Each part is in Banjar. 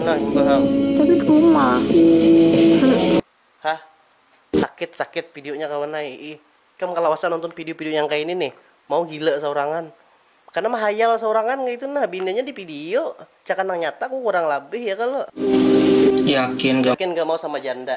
Nah imbah am. Tapi kuma. Hah sakit sakit videonya kawan ai ih ikam kalawasan nonton video video yang kaya ini nih mau gila saurangan karena mahayal saurangan kaitu nah bininya di video cakah nang nyata ku kurang labih ya kalo. Yakin ga mau sama janda.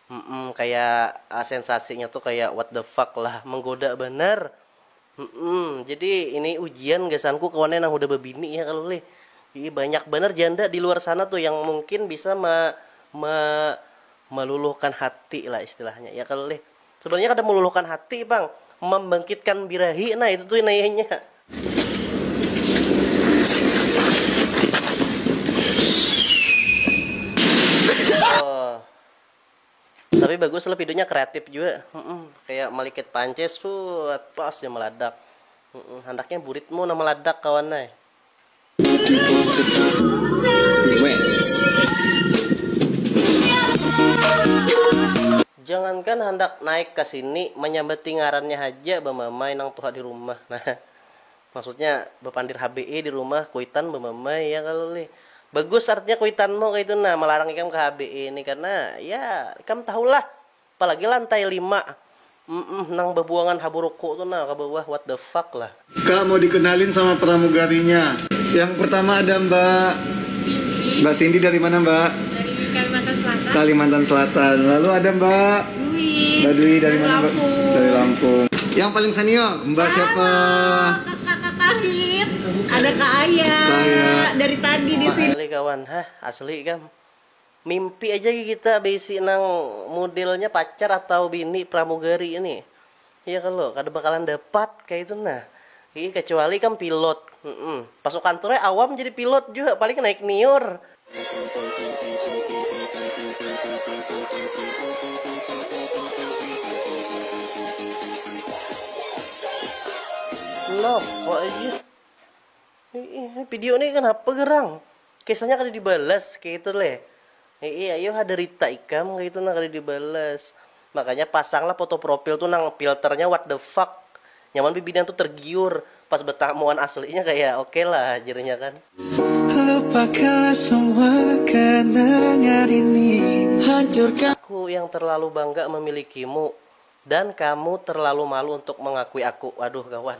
Humm kaya sensasinya tu kaya what the fuck lah menggoda banar humm jadi ini ujian gasanku kawan nang hudah babini ya kalo lih iih banyak banar janda diluar sana tu yang mungkin bisa ma ma maluluhkan hati lah istilahnya ya kalo lih sebenarnya kada maluluhkan hati pang mambangkitkan birahi nah itu tu nayanya. Tapi bagus lah videonya kreatif juga. Mm-mm. Kayak melikit pancis buat pas dia meladak. Mm-mm. Handaknya buritmu nama meladak kawan eh. Jangankan handak naik ke sini, menyambati ngarannya haja bamamai nang tuha di rumah. Nah. Maksudnya bapandir HBE di rumah kuitan bamamai ya kalo lih. Bagus artinya kuitanmu kaitu nah malarang ikam ke HBE ni karena ya ikam tahulah apalagi lantai lima mm nang babuangan haburuku tu nah kabawah what the fuck lah. Kak mau dikenalin sama pramugarinya. Yang pertama ada mbak. Mbak Cindy dari mana mbak? Dari Kalimantan Selatan. Kalimantan Selatan. Lalu ada mbak. Badui dari mana mbak? Dari Lampung. Yang paling senior, mbak siapa? Kakak kahit, ada ka aya, dari tadi di sini. Asli kawan, hah asli kam. Mimpi aja kita baisi nang mudelnya pacar atau bini pramugari nih. Iya kalo, kada bakalan dapat kaitu nah. Hiih kacuali ikam pilot. Humm. Pasukan Troy awam jadi pilot jua, paling naik niur. Napa ih. Ini video nih kenapa gerang? Kisahnya kada dibalas kaitu leh. Hii ayuh ada rita ikam kaitu nah kada dibalas. Makanya pasanglah foto profil tu nang filternya what the fuck. Nyaman bibinian tu tergiur pas betamu wan aslinya kaya oke lah jarnya kan. Lupakanlah semua kenangan ini hancurkan. Aku yang terlalu bangga memilikimu dan kamu terlalu malu untuk mengakui aku. Waduh kawan.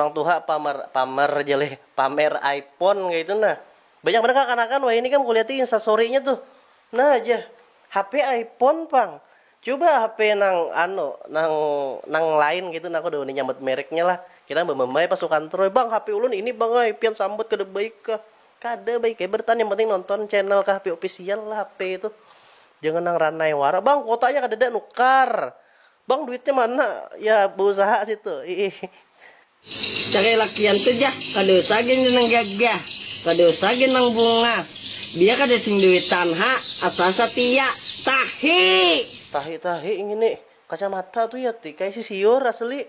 orang tuha pamer pamer jeleh pamer iPhone kayak itu nah banyak mereka kanakan wah ini kan kulihat instastorynya tuh nah aja HP iPhone pang coba HP nang anu nang nang lain gitu nah aku udah nyambut mereknya lah kira bamamai pas ukantroy bang HP ulun ini bang ay pian sambut kada baik kah Kada baik ai bertahan yang penting nonton channel khp official lah hp itu jangan nang ranai wara bang kuotanya kadada nukar bang duitnya mana ya beusaha situ iih. Cari lakian tu jah kada usah gin nang gagah kada usah gin nang bungas biar kada sing duitan ha asal satia tahi. Tahi tahi ngini kacamata tu ya ti kaya sisiur asli.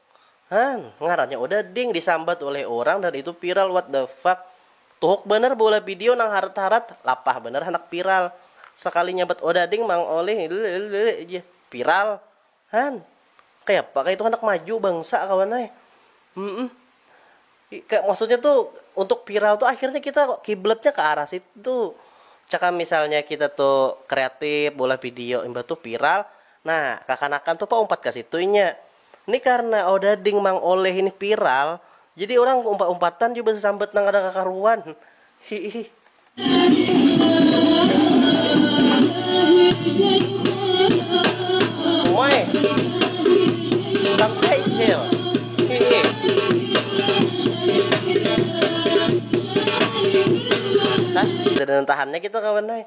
Han, ngarannya udah ding disambat uleh urang dan itu viral what the fuck. Tuhuk banar beulah video nang harat-harat, lapah banar handak viral. Sakali nyambat odading mang olih lllllll ja viral. Han, kayapa kah itu handak maju bangsa kawan ai. Humm. Kaya maksudnya tu untuk viral tu akhirnya kita kiblatnya ke arah situ. Cakam misalnya kita tu kreatif beulah video imbah tu viral, nah kakanakan tu paumpat ka situ inya. Ni karna odading mang oleh ini viral, jadi urang umpat umpatan jua basasambat nang kada kakaruan. Hiih. Umai. Santai cil. Hiih. Hah. Kada nang tahannya kita kawan ai.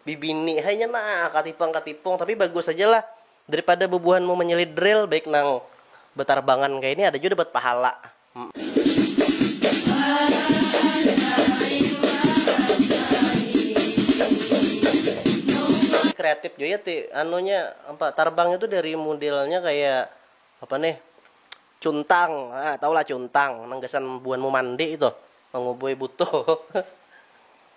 Bibini hai nya nah katipang katipung tapi bagus haja lah. Daripada bubuhanmu manyilih drill baik nang batarbangan kaya ini ada jua dapat pahala. Kreatif jua ya ti anunya apa tarbangnya tu dari mudilnya kaya apa nih cuntang tahu lah cuntang nang gasan bubuhanmu mandi itu mangubui butuh.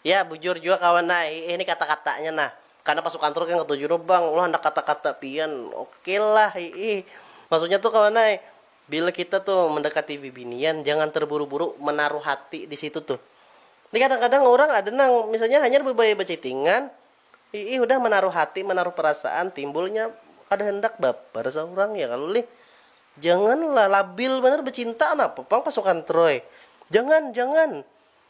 Ya, bujur jua kawan ai. Hiih ni kata-katanya nah. Karena pasukan truk yang ketujuh tu bang, ulah handak kata-kata pian. Okey lah hiih. Maksudnya tu kawan ai, bila kita tu mendekati bibinian jangan terburu-buru menaruh hati di situ tu. Ni kadang-kadang urang ada nang misalnya hanyar bebaya bachattingan, hiih hudah menaruh hati, menaruh perasaan, timbulnya kada handak baper seurang ya kalo lih. Jangan lah, labil banar becinta napa pang pasukan troy. Jangan, jangan.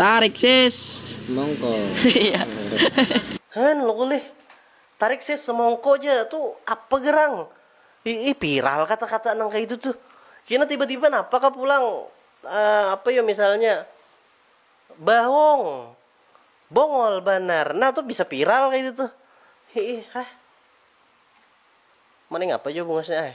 Tarik sis semongko. Hn loko lih. Tarik sis semongko ja tu apa gerang. Iih viral kata kata nang kaitu tu. Kina tiba tiba napa kah pulang apa yo misalnya bahong bongol banar nah tu bisa viral kaitu tu. Iih hah. Mending apa jua bungasnya ai.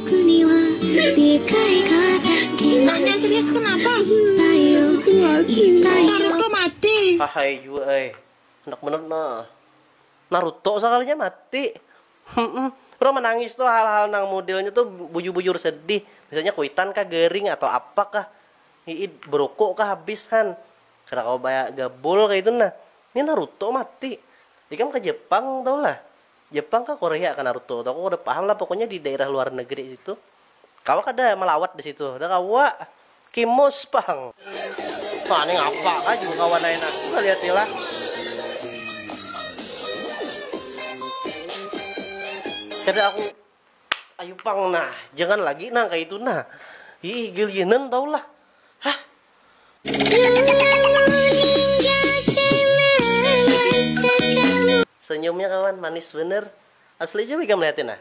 Hahai jua ai, handak banar nah. Naruto sakalinya mati. Urang manangis tu hal-hal nang mudelnya tu bujur-bujur sedih. Misalnya kuitan kah garing atau apa kah. Hihi beruku kah habis han. Kada kawa bagabul kaya itu nah. Nih Naruto mati. Ikam ke Jepang tahu lah. Jepang kah Korea kah Naruto tuh aku kada paham lah pokoknya di dairah luar negeri situ kawa kada malawat disitu dah kawa kimus pang wah nih ngapa kah jua kawa naya nah aku malihatnya lah. Kada aku. Ayu pang nah, jangan lagi nang kaya itu nah. Iih gelianan tahu lah. Hah. Senyumnya kawan manis bener. Asli coba ikam lihatin nah.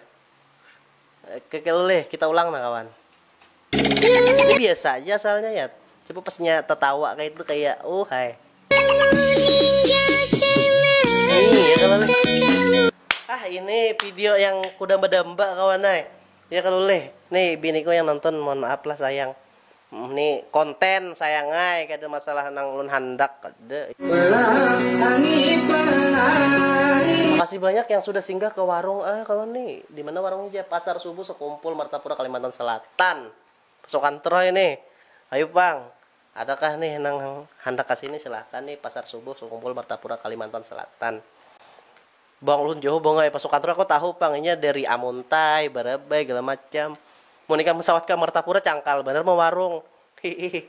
Kekeluleh kita ulang nah kawan. Ini biasa aja asalnya ya. Coba pasnya tertawa kayak itu kayak oh hai. Iya kalau Ah ini video yang kuda bedamba kawan hai. Ya kalau leh. Nih biniku yang nonton mohon maaf lah sayang. Ini konten sayangai kada masalah nang ulun handak. Makasih banyak yang sudah singgah ke warung ah kawan nih. Di mana warungnya ja? Pasar Subuh Sekumpul Martapura Kalimantan Selatan. Pasukan Troy nih. Ayu pang. Adakah nih nang handak ka sini silahkan nih Pasar Subuh Sekumpul Martapura Kalimantan Selatan. Bang ulun jauh bang ai pasukan Troy aku tahu pang inya dari Amuntai, Barabai, gala macam. Mun ikam sawat ka Martapura cangkal banar ma warung. Hiih.